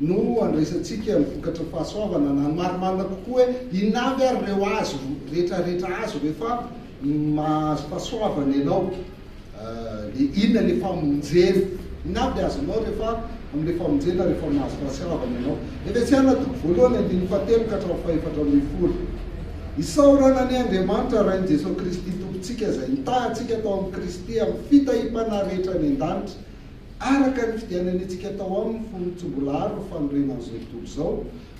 no andraisantsika ny vokatra fahasoavana na ny marimarina kokoa hoe inona avy ary ireo azo retraretra azo rehefa mahazo fahasoavana ianao dia inona ilay famonjena inona avy azonao rehefa amin'ilay famonjena rehefa mahazo fahasoavana ianao Efesiana toko voalohany andininy fahatelo ka hatramin'ny fahefatra ambin'ny folo Isaorana ny Andriamanitra Rain'i Jesoa Kristy Tompontsika izay nitaha antsika tao amin'i Kristy amin'ny fitahiam-panahy rehetra any an-danitra Araka ny fidianany antsika atao aminy fony tsy mbola ary ny fanorenana izao tontolo izao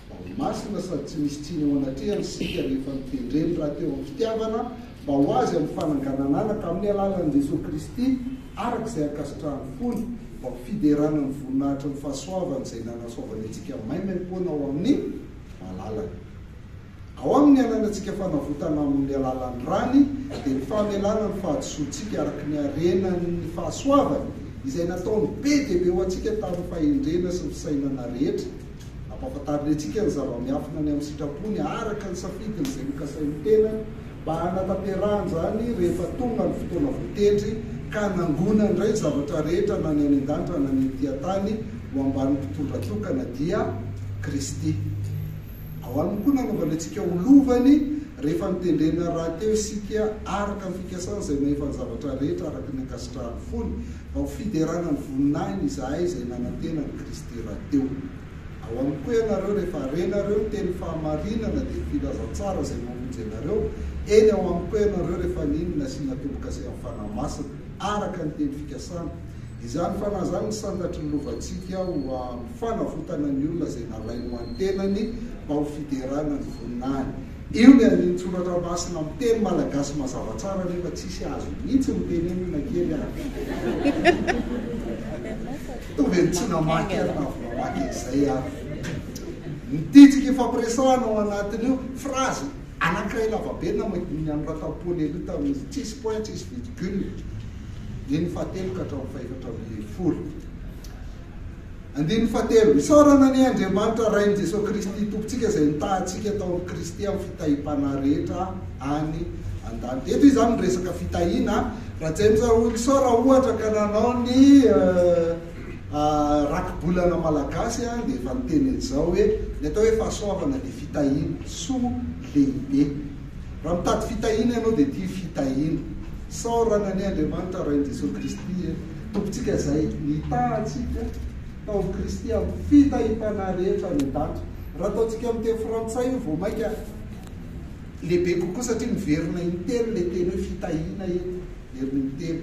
mba ho masina sady tsy misy tsiny eo anatrehany isika rehefa notendreny rahateo amin'ny fitiavana mba ho azy amin'ny fananganananaka amin'ny alalan'i Jesoa Kristy araka izay ankasitrahan'ny fony mba ho fiderana ny voninahitry ny fahasoavany izay nanasoavany antsika maimaimpoana ao amin'ny malalany. Ao amin' ny ananantsika fanavotana amin' ny alalan' ny rany dia ny famelana ny fahadisoantsika araka ny harenan' ny fahasoavany izay nataony be dia be ho antsika tamin' ny fahendrena sy ny fisainana rehetra. Ampahafantariny antsika ny zava-miafina ny amin' ny sitrapony araka ny safidiny izay nokasain' ny tenany mba hanatanterahany izany rehefa tonga ny fotoana voatendry ka hanangonany indray ny zavatra rehetra na ny any an-danitra na ny ety an-tany ho ambanin' ny mpitondra tokana dia Kristy. Ao aminy koa nanaovany antsika ho lovany rehefa notendrena rahateo isika araka ny fikasany izay mahefa ny zavatra rehetra araka ny ankasitrahan'ny fony, mba ho fiderana ny voninahiny izahay izay nanantena an'i Kristy rahateo. Ao aminy koa ianareo rehefa harenareo ny teny fahamarinana dia filazantsara izay mamonjy anareo, eny ao aminy koa ianareo rehefa nino ny nasiana tombo-kase amin'ny Fanahy Masina araka ny teny fikasany, Izany fanahy izany no sandatry ny lovantsika ho amin'ny fanavotana ny olona izay nalainy ho an'ny tenany mba ho fiderana ny voninahiny. Io ny andinin-tsoratra masina amin'ny teny malagasy mazava tsara nefa tsisy azo mihitsy ny tenenina na kely ary. Toa ve tsy namaky ary na avy mamaky an'izay ary. Ny tijy k'ifampiresahana ao anatin'io, phrase, Anankiray lavabe namadihiny an'i Ratampoana ery tamin'izy tsisy point tsisy virgule, andininy fahatelo ka hatramin'ny fahefatra ambin'ny folo. Andininy fahatelo, Isaorana anie Andriamanitra Rain'i Jesoa Kristy Tompontsika izay nitaha antsika tao amin'i Kristy amin'ny fitahim-panahy rehetra any an-danitra. Eto izy izany miresaka fitahiana. Raha James Wilson raha ohatra ka nanao ny. Rakibolana malagasy dia efa niteny an'izao hoe ny atao hoe fahasoavana dia fitahiana, soa lehibe. Raha mitady fitahiana ianao dia ity fitahiana. Isaorana anie Andriamanitra Rain'i Jesoa Kristy e, Tompontsika izay nitaha antsika tao amin'i Kristy amin'ny fitahiam-panahy rehetra any an-danitra. Raha ataontsika amin'ny teny frantsay io vao mainka lehibe kokoa satria miverina intelo ilay teny hoe fitahiana eto, miverina intelo.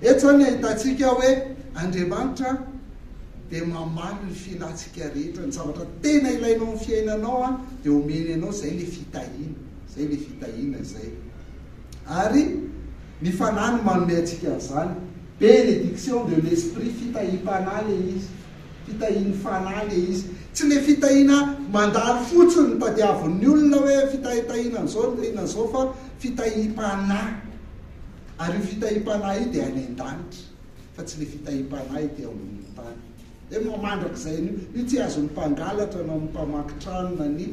Eto izany ahitantsika hoe Andriamanitra dia mamaly ny filantsika rehetra, ny zavatra tena ilainao amin'ny fiainanao dia omeny anao, izay ilay fitahiana, izay ilay fitahiana izay. Ary ny Fanahy no manome antsika an'izany, bénédiction de l'Esprit, fitahiam-panahy ilay izy, fitahian'ny Fanahy ilay izy, tsy ilay fitahiana mandalo fotsiny no tadiavin'ny olona hoe fitahitahiana an'izao na inona an'izao fa fitahiam-panahy. Ary io fitahiam-panahy io dia any an-danitra, fa tsy ilay fitahiam-panahy ety ambonin'ny tany. Hoe moa mandrakizay anio? Io tsy azon'ny mpangalatra na ny mpamaky trano na ny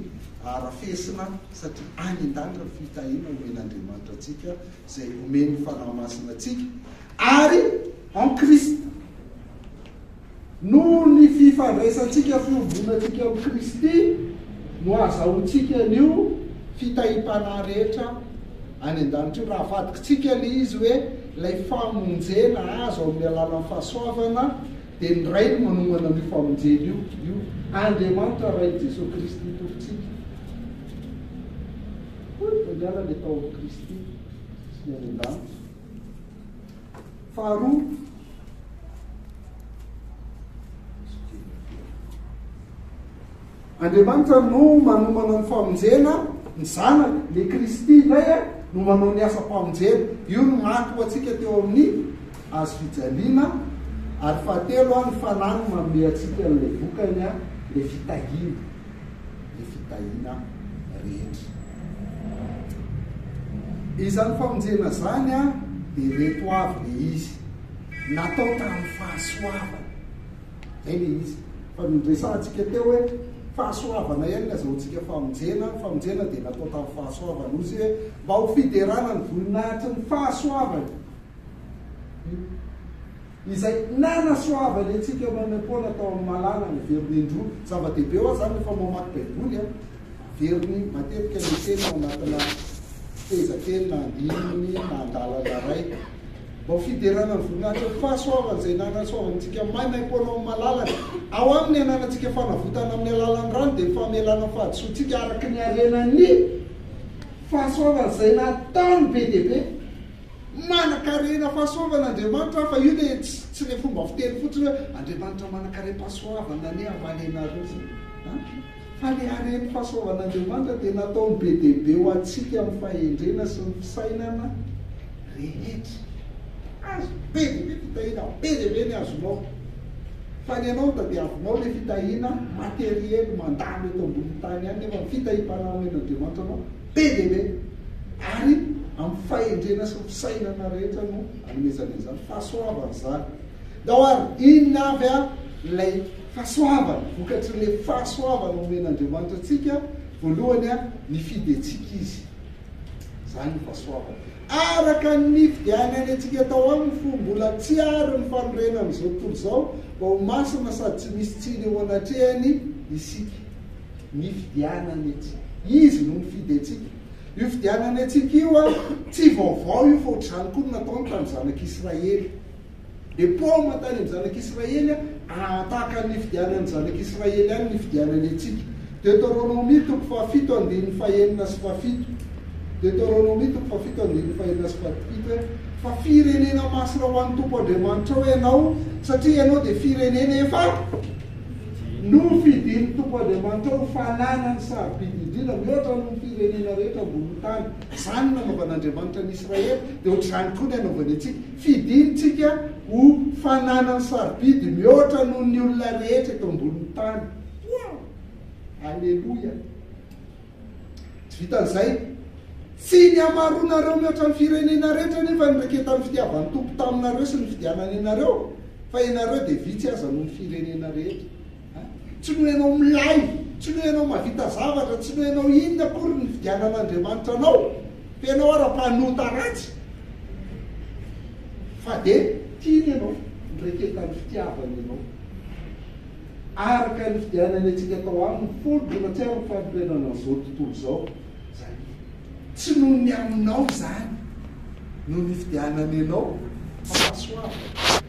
arafesina, satria any an-danitra ny fitahiana omen'Andriamanitra antsika, izay omen'ny Fanahy Masina antsika, ary en Christ. Noho ny fifandraisantsika fiombonantsika amin'i Kristy no ahazahoantsika an'io fitahiam-panahy rehetra any an-danitra io. Raha avadikintsika ilay izy hoe ilay famonjena azo amin'ny alalan'ny fahasoavana, dia ny Ray no manomana an'io famonjena io, io Andriamanitra Rain'i Jesoa Kristy Tompontsika. Hoy Daniala, Ny atao amin'i Kristy sy ny any an-danitra. Faharoa, Andriamanitra no manomana ny famonjena ny Zanany, le Kristy indray a, no manao ny asam-pamonjena. Io no maty ho antsika teo amin'ny Hazo fijaliana. Ary fahatelo a, ny Fanahy no manome antsika an'ilay vokany a, le fitahiana. ny fitahiana rehetra. Izany famonjena izany a, dia ireto avy le izy, natao tamin'ny fahasoavana. Zay le izy. Fa niresahantsika teo hoe fahasoavana ihany ny azahoantsika famonjena, ny famonjena dia natao tamin'ny fahasoavana. Hozy hoe mba ho fiderana ny voninahitry ny fahasoavany. izay nanasoavany antsika maimaim-poana tao amin'ny mahalala ny veriny indroa. Zava-dehibe ho ahy izany rehefa mamaky Baiboly an, averiny matetika ny teny ao anatina fehezanteny na andininy na andalana iray. Mba ho fiderana ny voninahitra ny fahasoavany izay nanasoavany antsika maimaim-poana ao amin'ny malalany. Ao aminy ananantsika fanavotana amin'ny alalan'ny rany dia ny famelana ny fahadisoantsika araka ny harenan'ny fahasoavany izay nataony be dia be. Manankarena fahasoavana Andriamanitra fa io le tsy le fomba fiteny fotsiny hoe Andriamanitra manankarem-pahasoavana anie havaly anareo zay an! Fa le harem fahasoavan'Andriamanitra dia nataony be dia be ho antsika amin'ny fahendrena sy ny fisainana rehetra. Azo be dia be fitahiana, be dia be ny azonao. Fa ny anao nitadiavinao le fitahiana materiely mandalo eto ambonin'ny tany ihany nefa ny fitahiam-panahin'Andriamanitra anao Be dia be! Ary amin'ny fahendrena sy ny fisainana rehetra no anomezana izany fahasoavana izany. Ndao ary, inona avy ary ilay fahasoavana, vokatrin'ilay fahasoavana omen'Andriamanitra antsika? Voalohany, nifidy antsika Izy. Izany no fahasoavana. Araka ny nifidianany antsika tao Aminy, fony mbola tsy àry ny fanorenan'izao tontolo izao, mba ho masina sady tsy misy tsiny eo anatrehany isika. Ny fidianany antsika. Izy no nifidy antsika. Io fidianany antsika io an, tsy vaovao io fa ohatr'izany koa no nataony tamin'ny zanak'Israely. Dia paoma tany amin'ny zanak'Israely an, an tahaka ny nifidianan'ny zanak'Israely ihany ny nifidianany antsika. Deoteronomia toko fahafito andininy fahenina sy fahafito. Deoteronomia toko fahafito andininy fahenina sy fahafito hoe, Fa firenena masina ho an'ny Tompo Andriamanitrao ianao, satria ianao dia firenena efa. Nofidin'ny Tompo Andriamanitra ho fanana ny sarobidy indrindra mihoatra noho ny firenena rehetra ambonin'ny tany. Izany no nanaovan'Andriamanitra an'i Israely, dia hoatr'izany koa ny anaovany antsika. Fidintsika ho fanana ny sarobidy mihoatra noho ny olona rehetra eto ambonin'ny tany. Wow! Aleloia! Tsy vitan'izay, tsy ny hamaroanareo mihoatra ny firenena rehetra anefa ny raiketan'ny fitiavan'ny Tompo taminareo sy ny fidianany anareo, fa ianareo dia vitsy aza noho ny firenena rehetra. Tsy noho ianao milay, tsy noho ianao mahavita zavatra, tsy noho ianao inona akory ny fidianan'Andriamanitra anao, fa ianao ara mpanota ratsy, fa dia tiany ianao, ny raiketan'ny fitiavany ianao. araka ny fidianany antsika tao aminy fony dia mahatsiaro ny fanorenana an'izao tontolo izao izany izy. Tsy noho ny aminao izany no nifidianany anao fa fahasoavana.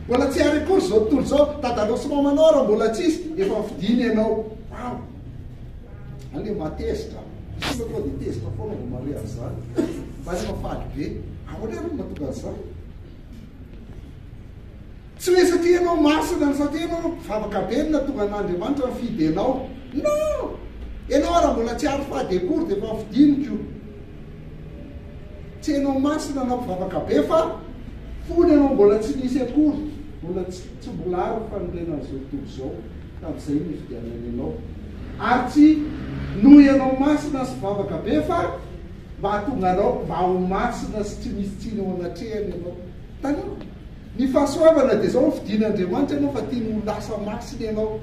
Mbola tsy ary akory izao tontolo izao, tadalao sy mamanao ary mbola tsisy, efa nifidiny ianao. Waouh! Any dia mba tezitra an! Isika tonga dia tezitra foana vao mahare an'izany. Mba efa faly be. Ahoana ary no mahatonga an'izany? Tsy hoe satria ianao masina na satria ianao mpivavaka be no nahatonga an'Andriamanitra nifidy anao. Non! Ianao ary mbola tsy ary fady akory dia efa fidiny ko. Tsy ianao masina na mpivavaka be fa fony ianao mbola tsy nisy akory, mbola tsy mbola ary ny fanorenan'izao tontolo izao, tamin'izay no nifidianany anao. Ary tsy noho ianao masina sy mpivavaka be fa mba hahatonga anao mba ho masina sy tsy misy tsiny eo anatrehany ianao. Taloha. Ny fahasoavana dia izao, fidin'Andriamanitra ianao fa tiany ho lasa masina ianao.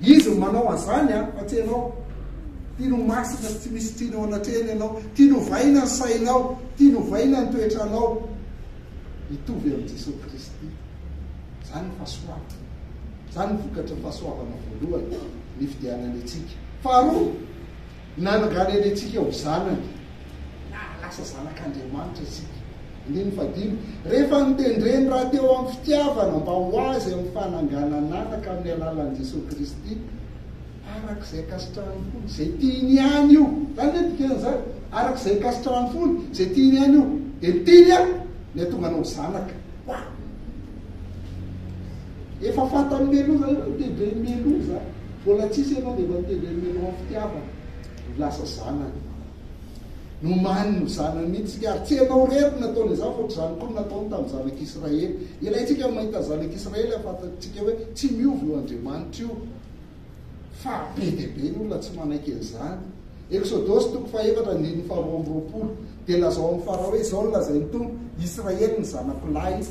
Izy no manao an'izany an, fa tsy ianao. Tiany ho masina sy tsy misy tsiny ao anatrehany ianao. Tiany ho vaina ny sainao, tiany ho vaina ny toetranao. Hitovy amin'i Jesoa Kristy. Izany ny fahasoavana. Izany ny vokatry ny fahasoavana voalohany, ny fidianany antsika. Faharoa. Nananganery antsika ho zanany. Nahalasa zanak'Andriamanitra isika. Andininy fahadimy, Rehefa notendreny rahateo amin'ny fitiavana mba ho azy amin'ny fananganan'anaka amin'ny alalan'i Jesoa Kristy, araka izay ankasitrahan'ny fony, izay tiany ihany io. Izany ve ny dikan'izany? Araka izay ankasitrahan'ny fony, izay tiany ihany io. Dia ny tiany an, ny hatonga anao ho zanaka. Wah! Efa fantan'i Meloa izany hoe ny degré-n'i Meloa izany. Mbola tsisy ianao dia efa miteny hoe Mino amin'ny fitiavana no lasa zanany. Nomaniny ho zanany mihitsy isika, ary tsy ianao irery no nataony izany fa ohatr'izany koa no nataony tamin'ny zanak'Israely. Ilaintsika ny mahita ny zanak'Israely hahafantatsika hoe tsy miova io Andriamanitra io, fa be dia be ny olona tsy manaiky an'izany. Eksodosy toko fahefatra andininy faharoa amby roapolo dia lazao amin'i Farao hoe, Izao no lazain'ny Tompo, Israely ny zanako lahy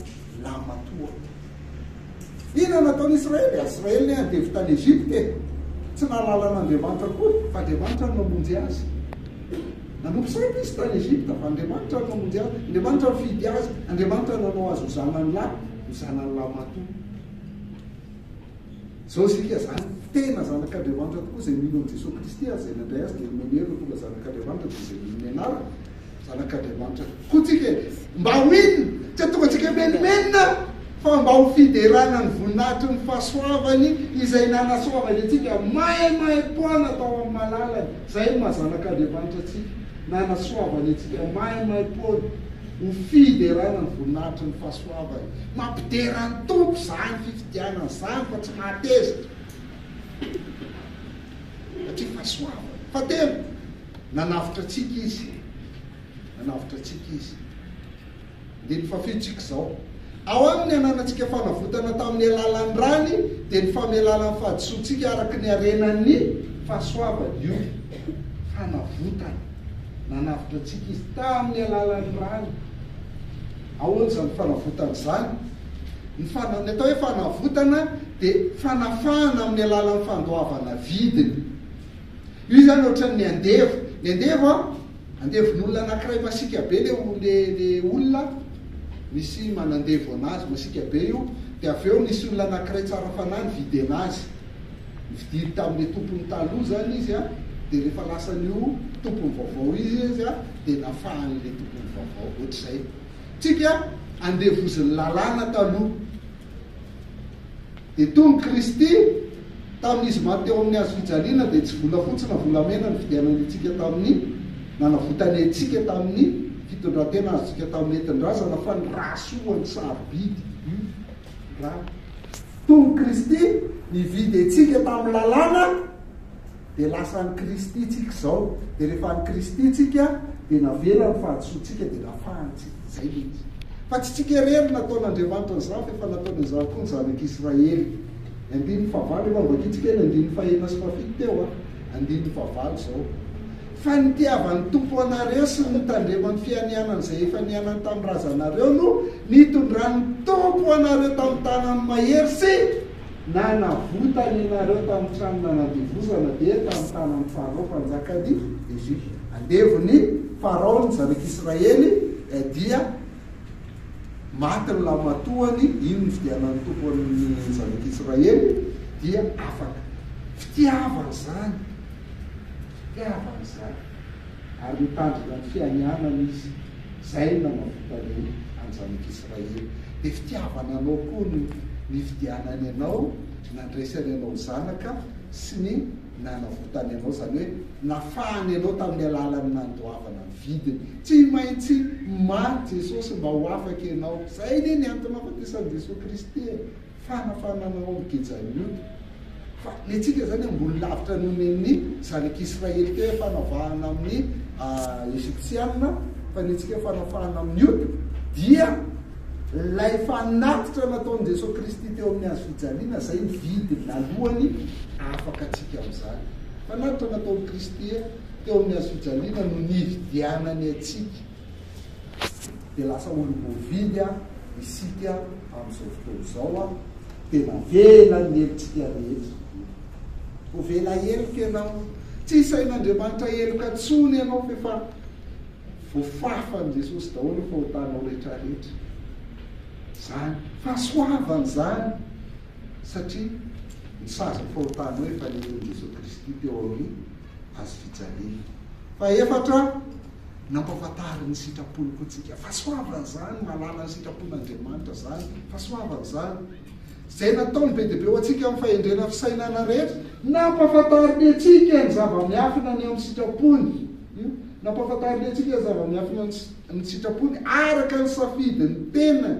lahimatoa. Inona no ataon'i Israely? Israely ne andevo tany Egypta e! Tsy nahalala an'Andriamanitra akory fa Andriamanitra no namonjy azy. Nanompo sampy izy tany Egypta fa Andriamanitra no namonjy azy, Andriamanitra nifidy azy, Andriamanitra nanao azy ho zanany lahy, ho zanany lahimatoa. Zao isika izany tena zanak'Andriamanitra tokoa izay mino an'i Jesoa Kristy ary izay nandray Azy dia nomeny hery ho tonga zanak'Andriamanitra dia izay mino ny anarany zanak'Andriamanitra koa tsika e! Mba ho inona? Tsy hahatonga antsika himenomenona fa mba ho fiderana ny voninahitry ny fahasoavany izay nanasoavany antsika maimaim-poana tao amin'ny malalany. Izay no maha zanak'Andriamanitra antsika, nanasoavany antsika maimaim-poana. Ho fiderana ny voninahitry ny fahasoavany. Mampidera ny Tompo izany fifidianana izany fa tsy mahatezitra. Satria fahasoavany. Fahatelo, nanavotra antsika Izy. Nanavotra antsika Izy. Andininy fahafito tsika izao. Ao Aminy ananantsika fanavotana tamin'ny alalan'ny rany, dia ny famelana ny fahadisoantsika araka ny harenan'ny fahasoavany. Io fanavotana. Nanavotra antsika Izy tamin'ny alalan'ny rany. Ahoana izany fanavotana izany? Ny fana, ny atao hoe fanavotana dia fanafahana amin'ny alalan'ny fandoavana vidiny. Io izany ohatran'ny andevo. Ny andevo a, andevon'olona anankiray masiaka be le o- le le olona, misy manandevo anazy masiaka be io, dia avy eo misy olona anankiray tsara fanahy nividy anazy. Nifidiry tamin'le tompony taloha zany izy an, de rehefa lasan'io tompony vaovao io izy an, de nafahan'le tompony vaovao, ohatr'izay. Tsika andevozin'ny lalàna taloha. De tony Kristy, tamin'izy maty teo amin'ny hazo fijaliana, de tsy volafotsy na volamena nividianany antsika tamin'ny, nanavotany antsika tamin'ny fitondrantena azontsika tamin'ny entin-drazana, fa ny ra soa, ny sarobidy, io Tony Kristy nividy antsika tamin'ny lalàna dia lasan'i Kristy tsika izao dia rehefa an'i Kristy tsika dia navela ny fahadisoantsika dia nafahantsika zay le izy fa tsy tsika irery nataon'Andriamanitra an'izany fa efa nataony an'izany koa ny zanak'Israely andininy fahavalo efa nivakitsika ny andininy fahena sy fahafito teo a andininy fahavalo izao Fa ny itiavan'ny Tompo anareo sy ny nitandreman'ny fianianany izay efa niainany tamin'ny razanareo no nitondran'ny Tompo anareo tamin'ny tanany mahery sy nanavotany anareo tamin'ny trano nanandevozana, dia tamin'ny tanan'i Farao mpanjakan'i Egypta. Andevon'i Farao ny zanak'i Israely, dia maty ny lahimatoany, iny nividianan'ny Tompo an'ny zanak'i Israely, dia afaka. Fitiavana izany. Fitiavana izany. Ary nitandrina ny fianianany izy, izay nanavotra ny anjanak'Israely. Dia fitiavana anao koa no nividianany anao, nandraisany anao ho zanaka, sy ny nanavotany anao, izany hoe nafahany anao tamin'ny alalan'ny nandoavana ny vidiny. Tsy maintsy maty Jesosy mba ho afaka ianao. Izay anie ny antony nahafatesan'i Jesoa Kristy e! Fanafanana omby gejan'ny ody. Fa ny antsika izany ambony lavitra noho ny an'ny zanak'Israely teo fanavahana amin'ny Egyptiana, fa ny antsika fanafahana amin'ny ody dia ilay fanatitra nataon'i Jesoa Kristy teo amin'ny hazo fijaliana izay ny vidiny alohany afaka antsika amin'izany. Fanatitra nataon'i Kristy teo amin'ny hazo fijaliana no nividianany antsika. Dia lasa olom-boavidy isika amin'izao fotoana izao an! Dia navela ny helotsika rehetra. Ho vela heloka ianao. Tsy isain'Andriamanitra heloka intsony ianao fa efa voafafan'i Jesosy daholo ny fahotanao rehetrarehetra. Izany. Fahasoavana izany satria ny sazin'ny fahotanao efa nen'in'i Jesosy Kristy teo amin'ny hazo fijaliana. Fahefatra, nampahafantary ny sitrapony koa tsika. Fahasoavana zany, mahalala ny sitrapon'Andriamanitra zany, fahasoavana zany. Zay nataony be dia be ho antsika amin'ny fahendrena fisainana rehetra. Nampahafantariny antsika ny zava-miafina ny amin'ny sitrapony. Nampahafantariny antsika ny zava-miafina ny sitrapony araka ny safidin'ny tenany.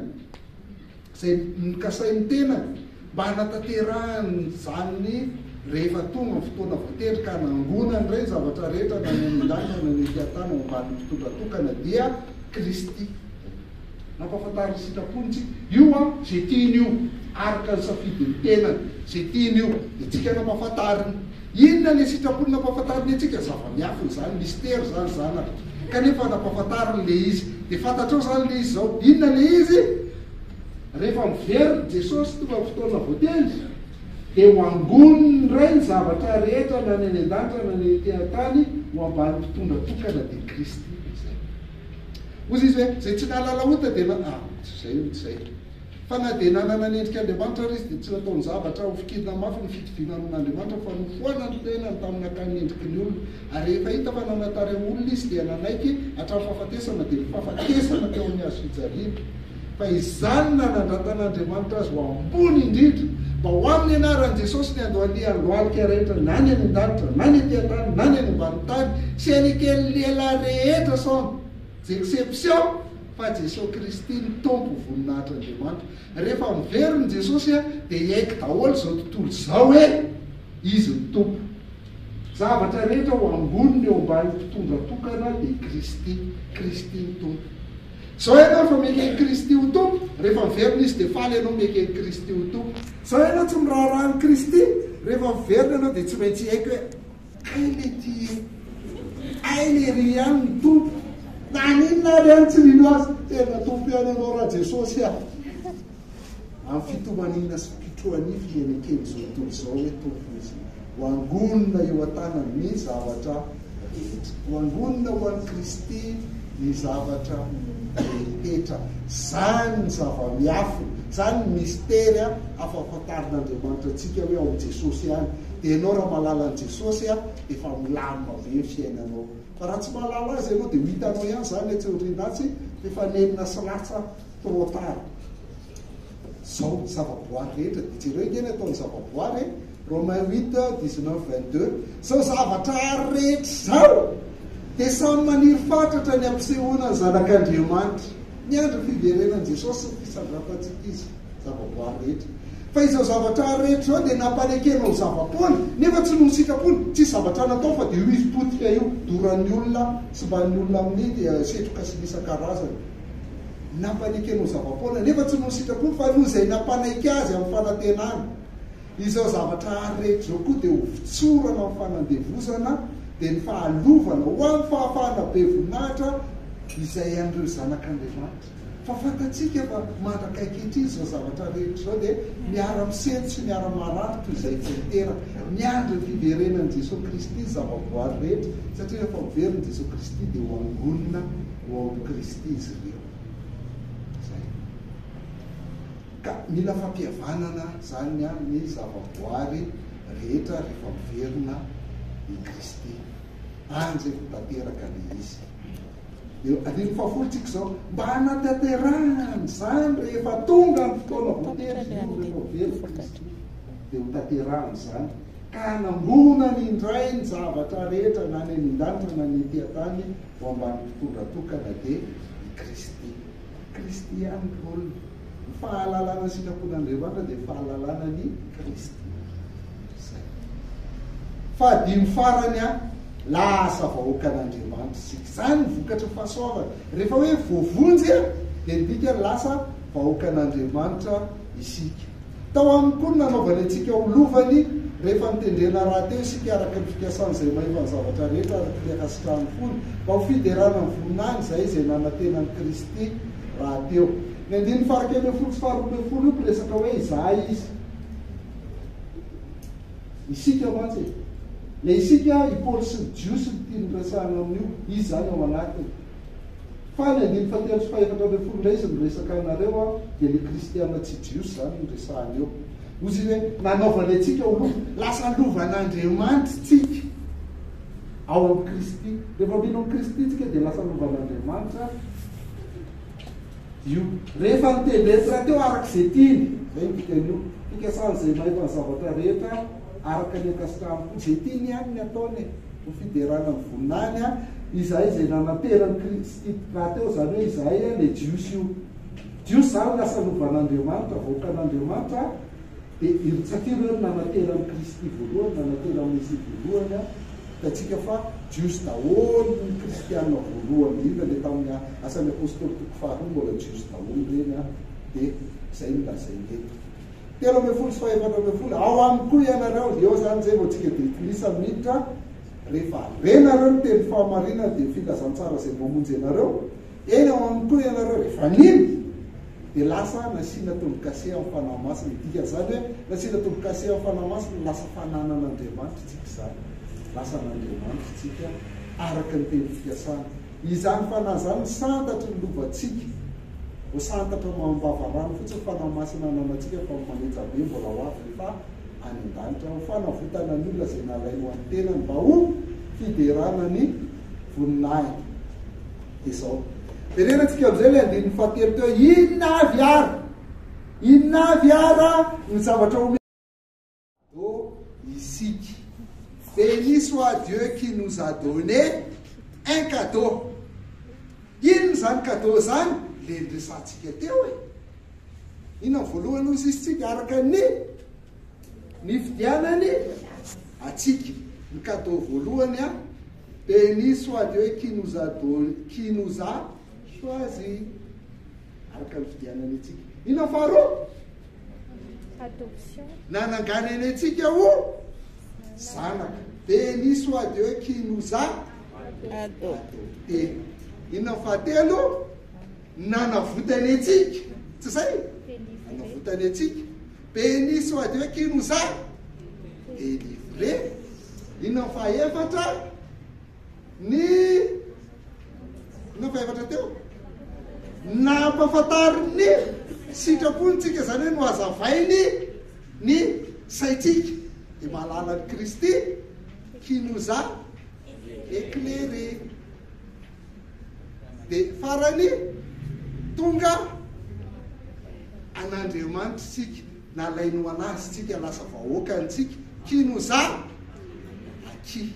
izay nokasain'ny tenany mba hanatanterahany ny zanany rehefa tonga ny fotoana voatery ka nangonany indray ny zavatra rehetra na ny any an-danitra na ny ety an-tany ao ambanin'ny mpitondra tokana dia Kristy. Nampahafantary ny sitrapony tsika. Io an, izay tiany io, araka ny safidin'ny tenany, izay tiany io dia tsika nampahafantariny. Inona ilay sitrapony nampahafantariny antsika? Zava-miafina izany, misitery izany zanaka, kanefa nampahafantariny ilay izy. Dia fantatrao izany ilay izy izao. Inona ilay izy? Rehefa miverina i Jesosy teo amin'ny fotoana voatendry, dia ho angoniny indray ny zavatra rehetra na ny any an-danitra na ny ety an-tany ho ambany mpitondra tokana dia Kristy izay. Hoy izy hoe, izay tsy nahalala ota dia na, ah, tsy izay hono, tsy izay. Fa na dia nanana ny endrika Andriamanitra ary izy dia tsy nataony zavatra hofikirina mafy ny fitoviana amin'Andriamanitra fa nofoanany ny tenany tamin'ny nakany ny endriky ny olona. Ary rehefa hita fa nanatare olona izy dia nanaiky hatramin'ny fahafatesana dia fahafatesana teo amin'ny hazo fijaliana. Fa izany nanandratan'Andriamanitra azy ho ambony indrindra, mba ho amin'ny anaran'i Jesosy ny andohalian'ny lohalika rehetra na ny any an-danitra na ny ety an-tany na ny any ambanin'ny tany sy an'ikely lehilahy rehetra sans exception fa Jesosy Kristy no Tompo voninahitr'Andriamanitra. Rehefa miverina i Jesosy dia hiaiky daholo izao tontolo izao hoe Izy no Tompo. Zavatra rehetra ho ambony ny eo ambany mpitondra tokana dia Kristy, Kristy ny Tompo. Zao ianao efa mieky an'i Kristy ho Tompo, rehefa miverina Izy dia faly ianao mieky an'i Kristy ho Tompo. Zao ianao tsy miraharaha an'i Kristy, rehefa miverina ianao dia tsy maintsy hiaiky hoe Ay le ty e, Ay le ry ihany ny Tompo, na n'inona ary ihany tsy mino Azy, tena Tompo ihany ianao ra Jesosy a. Amin'ny fitomaniana sy fitroanify izay nekeny izao tontolo izao hoe Tompo izy, ho angonina eo an-tanany ny zavatra rehetra. Ho angonina ho an'i Kristy ny zavatra rehetra. Izany ny zava-miafina, izany ny mistery afa-fantarin'Andriamanitra antsika hoe ao amin'i Jesosy ihany. Dia ianao raha mahalala an'i Jesosy dia efa milamina be ny fiainanao. Fa raha tsy mahalala Azy ianao dia ho hitanao ihany izany etsy aoriana atsy fa efa nenina sy latsa. trop tard zao ny zavaboary rehetra dia jereo nge ny ataon'ny zavaboary e Romain huit dix neuf vingt deux zao zavatra ary rehetra zao dia samy maniry fatratra ny ampisehoana ny zanak'Andriamanitra miandry ny fiverenan'i Jesosy sy ny fitsandrafantsika izy zavaboary rehetra fa izao zavatra ary rehetra zao dia nampanekenao ny zava-poana nefa tsy noho ny sitrapony tsisy zavatra natao fa dia io izy potika io doran'ny olona simban'ny olona amin'ny setroka sy ny isan-karazany Nampanaiky anao zava-poana, nefa tsy noho ny sitrapony, fa noho izay nampanaiky azy amin'ny fanantenana. Izao zavatra àry rehetra izao koa dia ho fitsorana amin'ny fanandevozana, dia ny fahalovana ho amin'ny fahafahana be voninahitra izay an'ireo zanak'Andriamanitra. Fa fantatsika fa mandraka ankehitriny izao zavatra rehetra izao dia miara-misento sy miara-maharary toy izay tsy niteraka. Miandry ny fiverenan'i Jesoa Kristy ny zavaboary rehetra, satria rehefa miverina i Jesoa Kristy dia ho angonina. ho ao amin'i Kristy izy ireo. Izay. Ka mila fampihavanana izany ny zavaboary rehetra rehefa miverina i Kristy. Anjy ho tanteraka ilay izy. Dia andininy fahafolo tsika izao, mba hanatanterahana an'izany rehefa tonga ny fotoana voatery izy ireo, rehefa very i Kristy, dia ho tanterahana izany, ka hanangonany indray ny zavatra rehetra na ny any an-danitra na ny ety an-tany, ho ambany mpitondra tokana dia i Kristy. Kristy ihany ny rôle-ny. Ny fahalalana ny sitrapon'Andriamanitra dia fahalalana an' i Kristy. Zay. Fahadimy farany an, lasa vahoakan'Andriamanitra isika. Zany ny vokatra fahasoavana. Rehefa hoe voavonjy an, dia midika lasa vahoakan'Andriamanitra isika. Tao aminy koa ny nanaovany antsika ho lovany rehefa notendrena rahateo isika araka ny fikasan'izay mahefa ny zavatra rehetra araka ny ankasitrahan'ny fony, mba ho fiderana amin'ny voninahiny izahay izay nanantena an'i Kristy rahateo. Ny andininy fahaenina ambin'ny folo sy faharoa ambin'ny folo io mpiresaka hoe izahay izy. Isika mantsy e. Ilay isika i Paoly sy ny Jiosy no tiany resahana amin'io, izy izany ao anatiny. Fa ny andininy fahatelo sy fahefatra ambin'ny folo indray izy no resaka anareo an, dia ny kristiana tsy jiosy izany no resahany eo. Ozy izy hoe, nanaovany antsika ho lova, lasa lovan'Andriamanitry tsika ao amin'i Kristy. Rehefa mino amin'i Kristy tsika dia lasa lovan'Andriamanitra io. Rehefa nitendretsy rahateo araka izay tiany, izay ny dikan'io, fikasan'izay mahita ny zavatra rehetra araka ny ankasitrahany koa, izay tiany ihany ny ataony e. Ho fiderana ny voninahiny an! Izahay izay nanateran'i Kristy rahateo, izany hoe izahay an, ilay Jiosy io. Jiosy izany lasa lovan'Andriamanitra, vahoakan'Andriamanitra an! Dia irotsak'io ireo no nanateran'i Kristy voalohany, nanateran'i Mesia voalohany an! Hitantsika fa Jiosy daholo ny Kristiana voalohany indrindra, ilay tamin'ny Asan'ny Apostoly toko faharoa mbola Jiosy daholo ireny an! Dia izay no lazainy eto. telo ambin'ny folo sy fahefatra ambin'ny folo ao aminy koa ianareo eo zany zay vao tsika de lisa miditra rehefa renareo ny teny fahamarinana de filazantsara zay mamonjy anareo eny ao aminy koa ianareo rehefa nino de lasa nasiana tombokase amin'ny fanahy masina dika zany hoe nasiana tombokase amin'ny fanahy masina lasa fananana Andriamanitra tsika zany lasa an'Andriamanitra tsika araka ny teny fikasana Izany fanahy izany ny santatry ny lovantsika. Voasantatra ao amin'ny vavarano fotsiny ny fanahy masina ananantsika fa manetsa be mbola ho avy rehefa any an-danitra. Ho fanavotana ny olona izay nalainy ho an'ny tenany mba ho fiderana ny voninahiny. Dia izao. Jerena tsika amin'izay ilay andininy fahatelo teo. Inona avy ary? Inona avy ary ny zavatra omena? Do isika. Beni soit Dieu qui nous a donne un cadeau. Inona izany cadeau izany? Ilay niresahantsika teo e. Inona ny voalohany hosisintsika araka ny nifidianany atsika. Ny cadeau voalohany a, Beni soit Dieu qui nous a donne, qui nous a Soa azy araka ny fidianany antsika. Inona faharoa? Adoption. Nanangana eny antsika ho zanaka. Béni soit Dieu qui nous a adopté. Inona fahatelo? Nanavotany antsika. Tsy zay? Nanavotany antsika. Béni soit Dieu qui nous a délivré. Inona fahaefatra? Ny nova efatra teo nampafantarin'ny sitrapony tsika izany hoe nohazavainy ny saintsika dia mahalala ny Kristy kinoza éclairé dia farany tonga an'Andriamanitra isika Nalainy ho anazy tsika lasa vahoakany tsika kino zah aky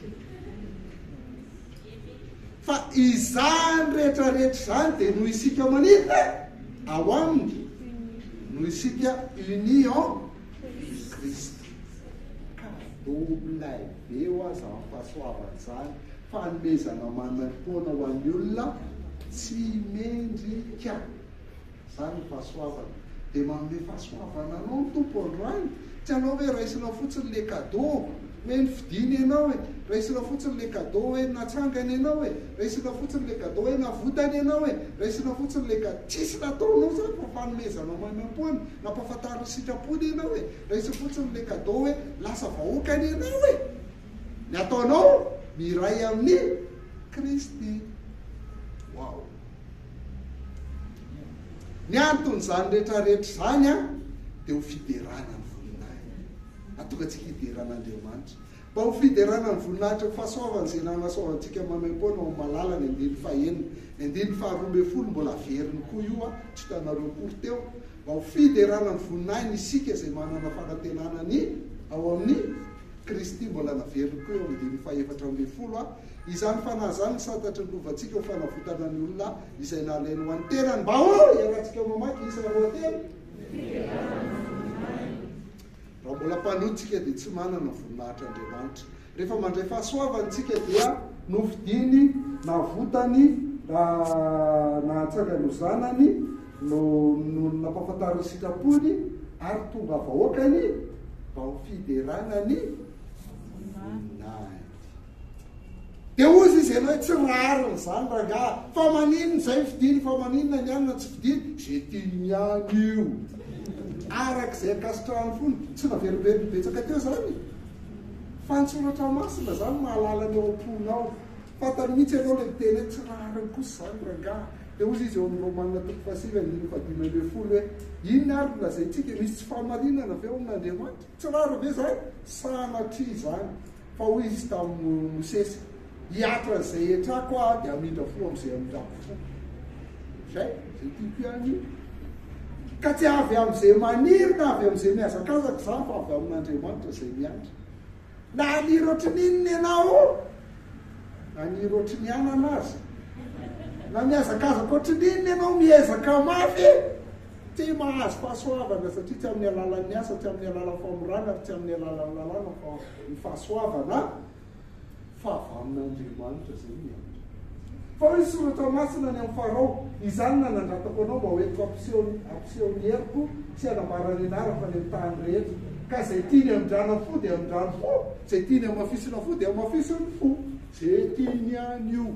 fa izany rehetra rehetra izany dia noho isika manina ao aminy noho isika uni en Christ ka WB ho aza amin'ny fahasoavany izany fanomezana manam-poana ho an'ny olona tsy mendrika Izany ny fahasoavana. Dia manome fahasoavana anao ny Tompo androany. Tsy anao hoe raisinao fotsiny ilay kadô hoe nifidiny ianao e! Raisinao fotsiny ilay kadô hoe natsangany ianao e! Raisinao fotsiny ilay kadô hoe navotany ianao e! Raisinao fotsiny ilay ka. Tsisy nataonao izany fa fanomezanao maimaimpoana, nampahafantariny ny sitrapony ianao e! Raisiny fotsiny ilay kadô hoe lasa vahoakany ianao e! Ny ataonao, miray amin'i Kristy. Wow! Ny anton'izany rehetra rehetra izany an, dia ho fiderana ny voninahiny. Atonga antsika hiderana Andriamanitra. Mba ho fiderana ny voninahitry ny fahasoavany izay nanasoavantsika maimaim-poana ao amin'ny malalany andininy fahenina. Ny andininy faharoa ambin'ny folo mbola haveriny koa io an, tsy hitanareo akory teo. Mba ho fiderana ny voninahiny isika izay manana fanantenana ny ao amin'ny. Kristy mbola naveriny koa eo amin'ny dimy fahefatra ambin'ny folo a! Izany Fanahy izany ny santatry ny lovantsika ho fanavotana ny olona izay nalainy ho an'ny tenany mba ho iarahantsika mamaky isa roa telo. Raha mbola mpanoa tsika dia tsy manana voninahitra Andriamanitra. Rehefa mandray fahasoavany tsika dia nofidiny, navotany, nahatsangany ho zanany, no no nampafantaro ny sitrapony ary tonga vahoaka ny vao fiderana ny voninahitry dia hoy izy izy ianao tsy rariny izany rangaha fa maninona izay fidiny fa maninona ny anina tsy fidiny izay tiany ihany io araka izay ankasitrahany fony tsy naverimberiny betsaka teo izany fa ny soratra masina izany mahalala ny ao am-ponao Fantany mihitsy ianao ilay miteny hoe tsy rariny kosa izany rangaha. Dia hozy izy eo amin'ny Romana toko fahasivy andininy fahadimy ambin'ny folo hoe, Inona ary no lazaintsika? Misy tsy fahamarinana ve ao amin'Andriamanitra? Tsy rariny ve izany? Sanatria izany. Fa hoy izy tamin'i Mosesy, Hihatra an'izay hetrako aho dia hamindra fo amin'izay hamindrako fo. Izay, izay tiako ihany io. Ka tsy avy amin'izay maniry na avy amin'izay mihazakazaka izany fa avy amin'Andriamanitra izay miandry. Na haniry ohatry ny inona ianao, haniry ohatry ny anana aza, na mihazakazaka ohatry ny inona ianao, miezaka mafy, tsy mahazo fahasoavana satria tsy amin'ny alalan'ny asa, tsy amin'ny alalan'ny famorana ary tsy amin'ny alalan'ny lalàna fa ny fahasoavana. Fa avy amin'Andriamanitra izay ny anjo. Fa hoy ny Soratra Masina ny amin'i Farao, Izany no nanandratako anao mba ho entiko hampiseho hampiseho ny heriko sy hanambara ny anarako any amin'ny tany rehetra. Ka izay tiany hamindrana fo dia hamindrany fo, izay tiany hamafisina fo dia hamafisiny fo. Ze tiany ihany io.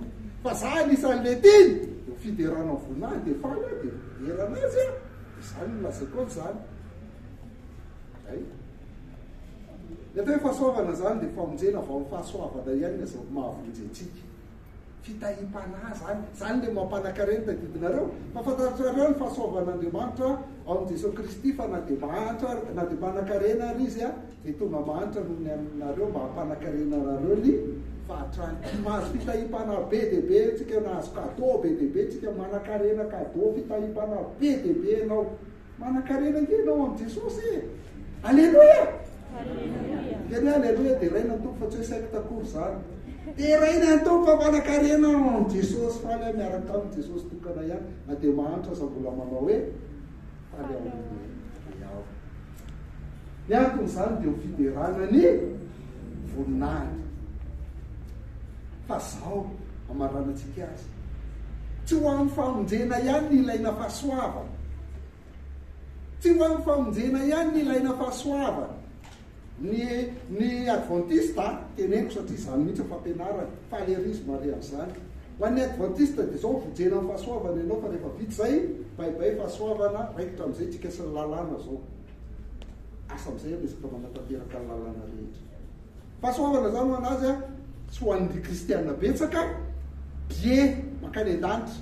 Fa za anisan'ny le tiany. Eo fiderana ny voina ahy dia faly aho dia midera anazy aho. Dia izany no lazaiko an'izany. Hay. Ny atao hoe fahasoavana izany dia famonjena vao ny fahasoavana ihany no azo mahavonjy antsika. Fitahiam-panahy izany. Izany ilay mampanan-karena tadidinareo. Fa fantatrareo ny fahasoavan'Andriamanitra ao amin'i Jesoa Kristy fa na dia mahantra na dia manan-karena ary Izy dia tonga mahantra noho ny anareo mba hampanan-karena anareo ny fahatrany. Mahazo fitahiam-panahy be dia be antsika, nahazo cadeau be dia be antsika, manan-karena, cadeau, fitahiam-panahy be dia be ianao. Manankarena ange ianao amin'i Jesosy e! Aleloia! Dia ny aleloia deraina ny Tompo fa tsy hoe secte akory izany. Deraina ny Tompo fa manankarena ao amin'i Jesosy. Faly aho miaraka tamin'i Jesosy tokana ihany na dia mahantra aza mbola manao hoe faly ao amin'i Ray aho. Ny anton'izany dia ho fiderana ny voninahitra fa zao amaranatsika azy tsy ho an'ny famonjena ihany ny ilaina fahasoavana tsy ho an'ny famonjena ihany ny ilaina fahasoavana ny ny adventiste teneniko satria izany mihitsy ny fampianarana falerisme ary an'izany ho an'ny adventiste dia zao vonjena ny fahasoavana ianao fa rehefa vita izay baibay fahasoavana raikitra amin'izay tsika sy ny lalàna zao Asa amin'izay aloha isika manatanteraka ny lalàna rehetra. Fahasoavana izany ho an'azy an, tsy ho an'ny kristiana betsaka, billet makany an-danitra.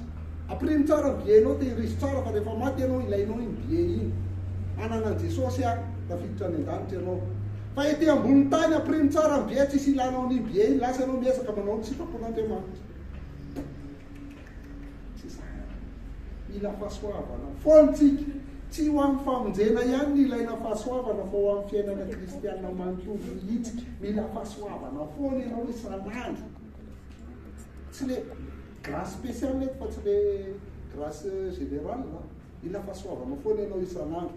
Ampirimo tsara ny billet-nao, tehirizo tsara fa rehefa maty ianao, ilainao iny billet iny. Hanana an'i Jesosy an, tafiditra any an-danitra ianao. Fa ety ambonin'ny tany, ampirimo tsara ny billet, tsisy ilanao an'iny billet iny, lasa ianao miezaka manao ny sitrapon'Andriamanitra. Tsy izany ary. Mila fahasoavana foana isika. Tsy ho amin'ny famonjena ihany no ilaina fahasoavana fa ho amin'ny fiainana kristiana manontolo mihitsy. Mila fahasoavana foana ianao isan'andro. Tsy le grâce spéciale eto fa tsy le grâce générale. Mila fahasoavana foana ianao isan'andro.